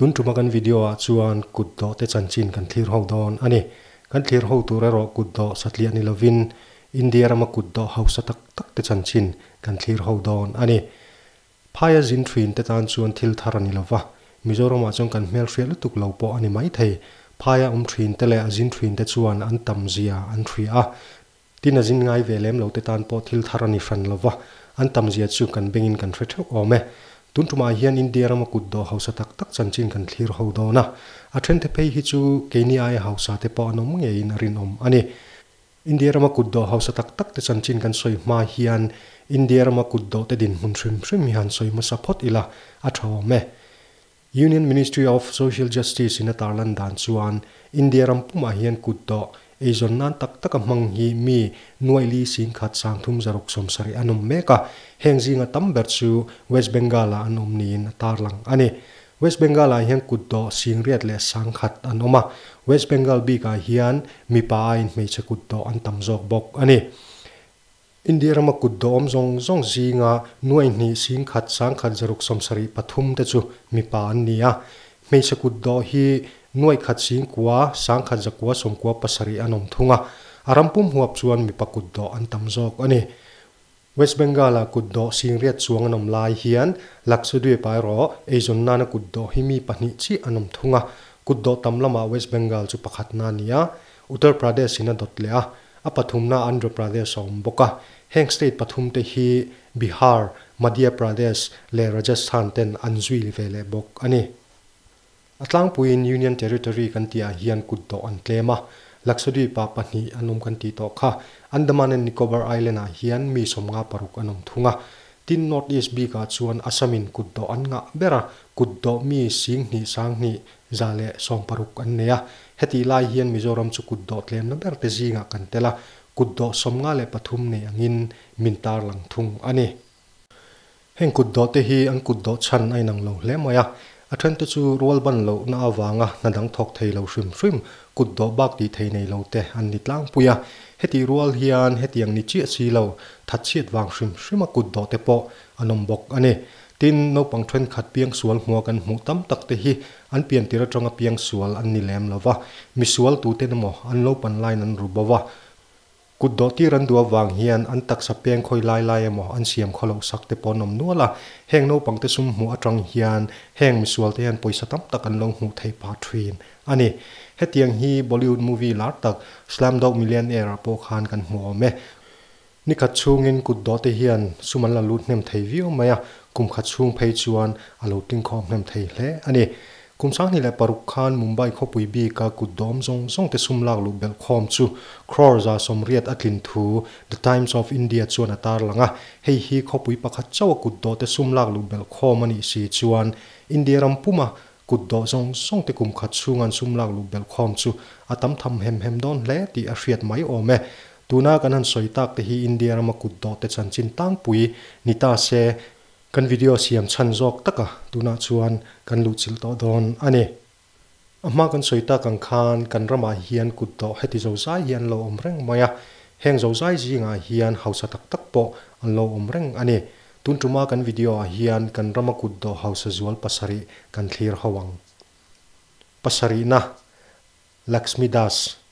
Tun ṭuma kan video ah chuan kut dawh te chanchin kan thlir ho dawn a ni. Kan thlir ho tur erawh kut dawh satliah ni lovin India rama kut dawh hausa tak tak te chanchin kan thlir ho dawn a ni. Phai a zin thin te tan chuan thil thar a ni lo va, Mizoramah chuan kan hmelhriat lutuk lo pawh a ni maithei. Phai a awm thin te leh a zin thin te chuan an tam zia an hria a, tin a zin ngai ve lem lo te tan pawh thil thar a ni hran lo va, an tam zia chu kan bengin kan hre theuh awm e. Tun tumah hian India ram a kut dawh hausa tak tak chanchin kan thlir ho dawn a. A then the phei hi chu Kenia-i hausa te pawh an awm ngeiin a rinawm a ni. India rama kut dawh hausa tak tak te chan chin kan sawi hma hian India rama kut dawh te dinhmun hrim hrim hi han sawi hmasa phawt ila, a tha awm e. Union Ministry of Social Justice in a tar lan dan chuan India ram pum ah hian kut dawh eizawn nan tak taka hmang hi mi nuai li sing khat sang thum zaruk sawm sarih an awm mek a, heng zing a tam ber chu West Bengal ah an awm niin a tar lang a ni. West Bengal ah hian kut dawh, singriat leh sangkhat an awm a, West Bengal bik ah hian mipa aiin hmeichhe kut dawh an tam zawk bawk a ni. India rama kut dawh awm zawng zawng zinga nuaihnih, singkhat, sangkhat, zaruk sawm sarih pathum te chu mipa an ni a. Hmeichhe kut dawh hi nuaihkhat, singkua, sangkhat, zakua, sawmkua, pasarih an awm thung a. A ram pum huap chuan mipa kut dawh an tam zawk a ni. West Bengal-a kut dawh sîngriat chuang an awm lai hian Lakshadweep aerawh eizawn nâna kut dawh hi mi pahnih chiah an awm thung a. Kut dawh tam lamah West Bengal chu pakhatna a ni a, Uttar Pradesh-in a dawt leh a, a pathumnaah Andhra Pradesh a awm bawk a. Heng state pathumte hi Bihar, Madhya Pradesh leh Rajasthan-ten an zui ve leh bawk a ni. A tlangpuiin Union Territory kan tihah hian kut dawh an tlem a, Lakshadweep-a pahnih an awm kan tih tawh kha. Andaman and Nicobar Island-ah hian mi sawmnga paruk an awm thung a. Tin, Northeast bikah chuan Assam-in kut dawh an ngah ber a, kut dawh mi sing hnih sang hnih za leh sawm paruk an nei a. Hetih lai hian Mizoram chu kut dawh tlemna berte zingah kan tel a, kut dawh sawmnga leh pathum nei angin min tarlang thung a ni. Heng kut dawh te hi an kut dawh chhan a inang lo hle mai a, a then te chu rual ban lohna avanga hna dang thawk thei lo hrim hrim, kut dawh bak tih thei nei lo te an ni tlangpui a, heti rual hian hetiang ni chiah si lo, that chhiat vang hrim hrima kut dawh te pawh an awm bawk a ni. Tin, naupang thenkhat piang sual hmua kan hmuh tam tak te hi an pian tir atanga piang sual an ni lem lo va, misual tute na maw an lo pan lain an ru bo va, Kut dawh tir an duh avang hian an taksa peng khawi lai lai emaw an siam khaw loh sak te pawh an awm nual a, heng naupangte sum hmuh atang hian heng misualte hian pawisa tam tak an lo hmuh theih pah thin a ni. Hetiang hi Bollywood movie lar tak Slumdog Millionaire ah pawh khan kan hmu awm e. Ni khat chhungin kut dawhte hian sum an la lut hnem thei viau mai a, kum khat chhung phei chuan a lo tling khawm hnem thei hle a ni. Kum sanghnih leh paruk khan Mumbai khawpui bika kut dawm zawng zawng te sum lak luh belh khawm chu crore za sawmriat a tlin thu The Times of India chuan a tar lang a, hei hi khawpui pakhat chauh a kut dawhte sum lak luh belh khawm a nih si chuan India ram puma kut dawh zawng zawng te kum khat chhunga an sum lak luh belh khawm chu a tam tham hem hem dawn hle tih a hriat mai awm e. Tuna kan han sawi tak te hi India rama kut dawhte chanchin tangpui ni ta se, Kan video siam chhan zawk taka tunah chuan kan luhchilh tawh dawn a ni. A hma kan sawi tak ang khan kan ramah hian kut dawh heti zozai hi an lo awm reng mai a, heng zozai zingah hian hausa tak tak pawh an lo awm reng a ni. Tun tuma kan video ah hian kan rama kut dawh hausa zual pasarih kan thlir ho ang. Pasarihna. Laxmi Das,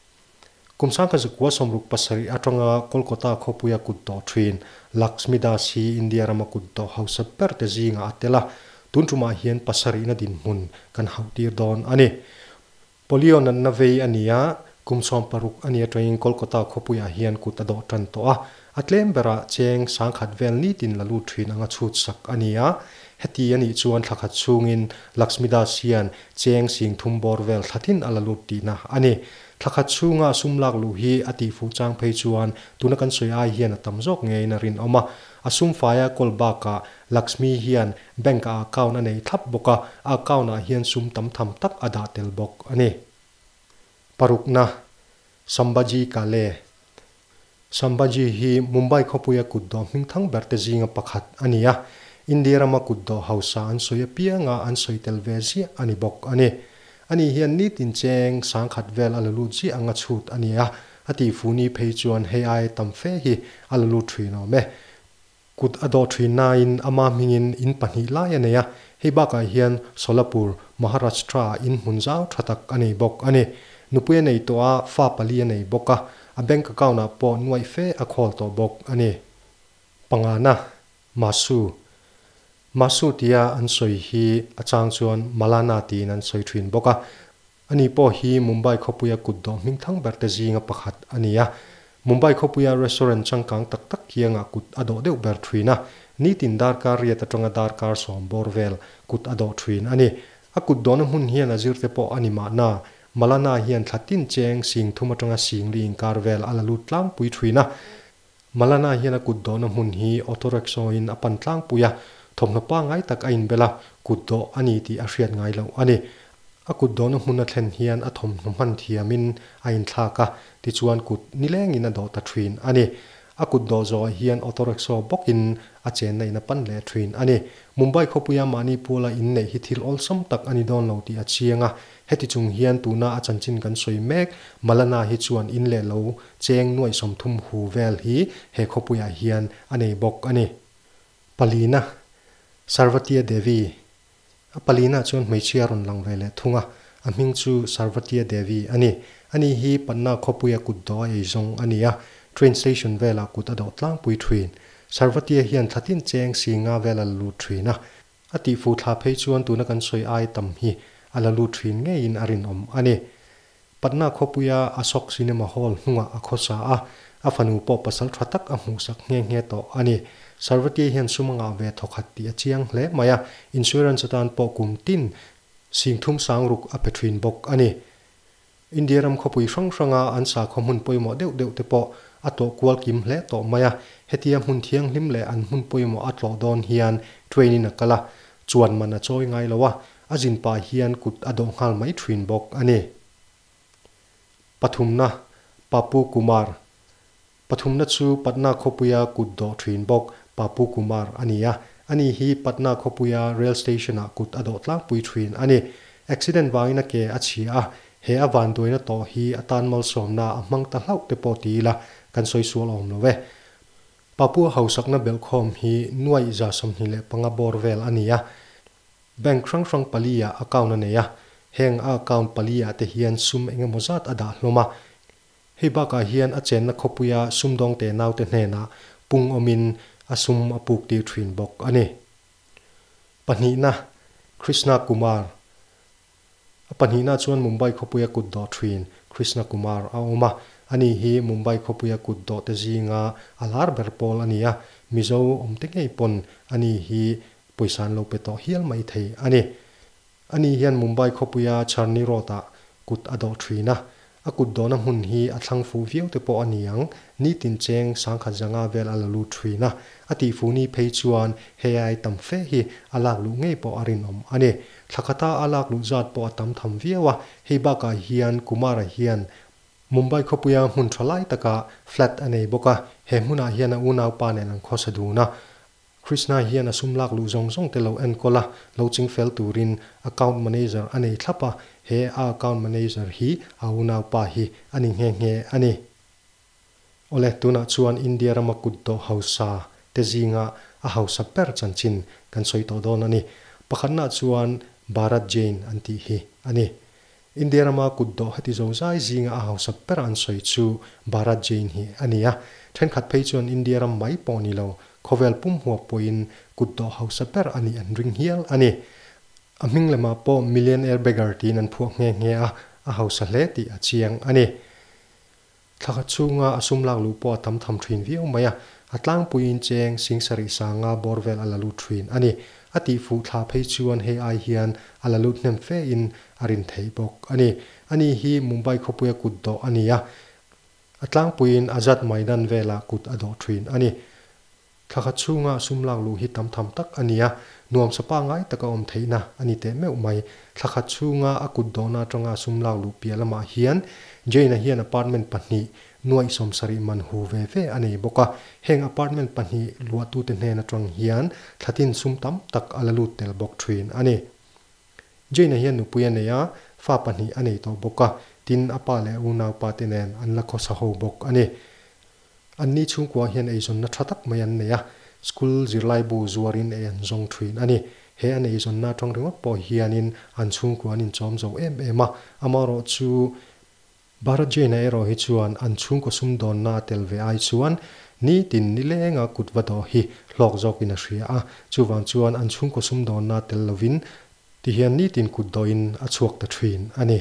Kum sangka zakua sawmruk pasarih atanga Kolkata khawpuia kut tawh thin Laxmi Das hi India rama kut tawh hausa berte zingah a tel a, tun tumah hian pasarihna dinhmun kan hauh tir dawn a ni. Polio natna vei a ni a, kum sawm paruk a ni atangin Kolkata khawpuiah hian kut a dawh tan tawh a, A tlem berah cheng sangkhat vel nitin la lut thin anga chhut sak a ni a. Heti a nih chuan thla khat chungin Laxmidas hian cheng sing thum bawr vel thla thin a la lut tihna a ni. Thla khat chunga sum lak luh hi a tih fuh chang phei chuan tuna kan sawi ai hian a tam zawk ngeiin a rinawm a. A sum faia call bakah Laxmi hian bank a account a nei thlap bawk a, a account ah hian sum tam tham tak a dah tel bawk a ni. Parukna, Sambhaji Kale, Sambhaji hi Mumbai khawpuia kutdawh hmingthang berte zinga pakhat a ni a, India rama kutdawh hausa an sawi apianga an sawi tel ve ziah a ni bawk a ni. A ni hian nitin cheng sang khat vel a la lut ziah anga chhut a ni a, a tihfuni phei chuan hei aia tam fe hi a la lut thin awm e. Kut a dawh thin nain ama hmingin in pahnih lai a nei a, hei bakah hian Solapur, Maharashtra ah in hmun zau tha tak a nei bawk a ni. Nupui a nei tawh a, fa pali a nei bawk a, a bank account ah pawh nuaih fe a khawl tawh bawk a ni. Pangana, Masu. Masu tia an sawi hi a chang chuan Malana tiin an sawi thin bawk a, Ani pawh hi Mumbai khawpuia kut dawh hming thang berte zinga pakhat a ni a. Mumbai khawpuia restaurant changkang tak tak kiangah kut a dawh deuh ber thin a, nitin darkar riat atanga darkar sawm bawr vel kut a dawh thin a ni. A kut dawhna hmun hian a zirte pawh a ni mahna, Malana hian thla tin cheng sing thum atanga sing li inkar vel a la lut tlangpui thin a. Malana hian a kut dawhna hmun hi auto rickshaw in a pan tlangpui a, thawmhnaw pangngai tak a inbel a, kut dawh a ni tih a hriat ngai loh a ni. A kut dawhna hmuna thlen hian a thawmhnaw hman thiamin a inthlak a, tichuan kut nilengin a dawh ta thin a ni. A kut dawh zawhah hian auto rickshaw bawkin a chenna in a pan leh thin a ni. Mumbai khawpuia mahni Paula inneih hi thil awlsam tak a ni dawn lo tih a chiang a, heti chung hian tuna a chanchin kan sawi mek Malana hi chuan in leh lo Cheng nuaih sawmthum hu vel hi he khawpuiah hian a nei bawk a ni. Palina, Sarvatiya Devi, a palina chuan hmeichhia rawn lang ve leh thung a, a hming chu Sarvatiya Devi a ni. Ani hi Panna khawpuia kut dawh a ei zawng a ni a, train station velah kut a dawh tlangpui thin. Sarvatiya hian thlatin Cheng si nga vela la lut thin a, A tihfu thla phei chuan tuna kan sawi ai tam hi a la lut thin ngeiin a rinawm a ni. Patna khawpuia Ashok Cinema Hall hnungah a khaw sa a, a fanu pawh pasal tha tak a hmuhsak nghe nghe tawh a ni. Sarvatie hian sum anga ve thawk hat tih a chiang hle mai a, insurance atan pawh kum tin singthum sang ruk a pe thin bawk a ni. India ram khawpui hrang hranga an sakhaw hmun pawimawh deuh deuh te pawh a tlawh kual kim hle tawh mai a, hetia hmun thianghlim leh an hmun pawimawh a tlawh dawn hian train in a kal a, chuan man a chawi ngai lo a, a zin pah hian kut a dawh nghal mai thin bawk a ni. Pathumna, Papu Kumar, Pathumna chu Patna khawpuia kut dawh thin bawk Papu Kumar a ni a, a ni hi Patna khawpuia rail station-ah kut a dawh tlangpui thin a ni. Accident vangin a ke a chhia a, he a van duaina tawh hi a tan malsawmna a hmang ta hlauh te pawh ti ila kan sawi sual awm lo e. Papua hausakna belhkhawm hi nuaih za sawmhnih leh panga bawr vel a ni a, bank hrang hrang pali-ah account a nei a, heng a account pali-ah te hian sum eng emaw zat a dah hlawm a, Hei bakah hian a chenna khawpuia sumdawngte naute hnenah pung awmin a sum a puktir thin bawk a ni. Pahnihna, Krishna Kumar A pahnihna chuan Mumbai khawpuia kut dawh thin Krishna Kumar a awm a, a ni hi Mumbai khawpuia kut dawhte zinga a lar ber pawl a ni a, Mizo awmte ngei pawn a ni hi pawisa an lo pe tawh hial mai thei a ni. Ani hian Mumbai khawpuia Charni Road-a kut a dawh thin a, a kut dawhna hmun hi a thlang fuh viau te pawh a ni ang, nitin cheng sangkhat zanga vel a la lut thin a. A tihfuni phei chuan hei ai tam fe hi a lak luh ngei pawh a rinawm a ni. Thla khata a lak luh zat pawh a tam tham viau a, hei bakah hian Kumar-a hian, Mumbai khawpuia hmun tha lai taka flat a nei bawk a, he hmunah hian a unaupa nen an khawsa dun a, Krishna hian a sum lak luh zawng zawng te lo enkawl a, lo ching fel turin account manager a nei thlap a, he a account manager hi a unaupa hi a ni nghe nghe a ni. Awle, tunah chuan India rama kut tawh hausa te zinga a hausa ber chanchin kan sawi tawh dawn a ni. Pakhatna chuan Bharat Jain an tih hi a ni. India rama kut dawh hati zo zai zinga a hausat bera an sawi chu Bharat Jain hi a ni a, thenkhat phei chuan India ram mai pawh ni lo, khawvel pum huap pawhin kut dawh hausa ber a nih an ring hial a ni. A hming lemah pawh millionaire beggar tiin an phuah nghe nghe a, a hausa hle tih a chiang a ni. Thla khat chhunga a sum lak luh pawh a tam tham thin viau mai a, a tlangpuiin cheng sing sarih sanga bawr vel a la lut thin a ni. A tihfuh thla phei chuan hei ai hian a la lut hnem fe in a rin theih bawk a ni. A ni hi Mumbai khawpuia kut dawh a ni a, a tlangpuiin Azad Maidan velah kut a dawh thin a ni. Thla khat chhunga sum lak luh hi tam tham tak a ni a, nuam sapa ngai taka awm theihna a ni teh meuh mai. Thla khat chhunga a kut dawhna atanga sum lak luh piah lamah hian Jane-a hian apartment pahnih nuaih sawm sarih man hu ve ve a nei bawk a, heng apartment pahnih luahtute hnen atang hian thla tin sum tam tak a la lut tel bawk thin a ni. Jane-a hian nupui a nei a, fa pahnih a nei tawh bawk a, tin a pa leh a unau pate nen an la khawsa ho bawk a ni. Anni chhungkuang hian eizawnna tha tak mai an nei a, school zirlaibu zuarin ei an zawng thin a ni. He an eizawnna atang ringawt pawh hianin an chhungkua an inchawm zo em em a. Amaherawh chu, Bharat Jain-a erawh hi chuan an chhungkaw sumdawnna a tel ve ai chuan nitin ni lenga kut va dawh hi hlawk zawkin a hria a. Chuvang chuan an chhungkaw sumdawnna a tel lovin ti hian nitin kut dawhin a chhuak ta thin a ni.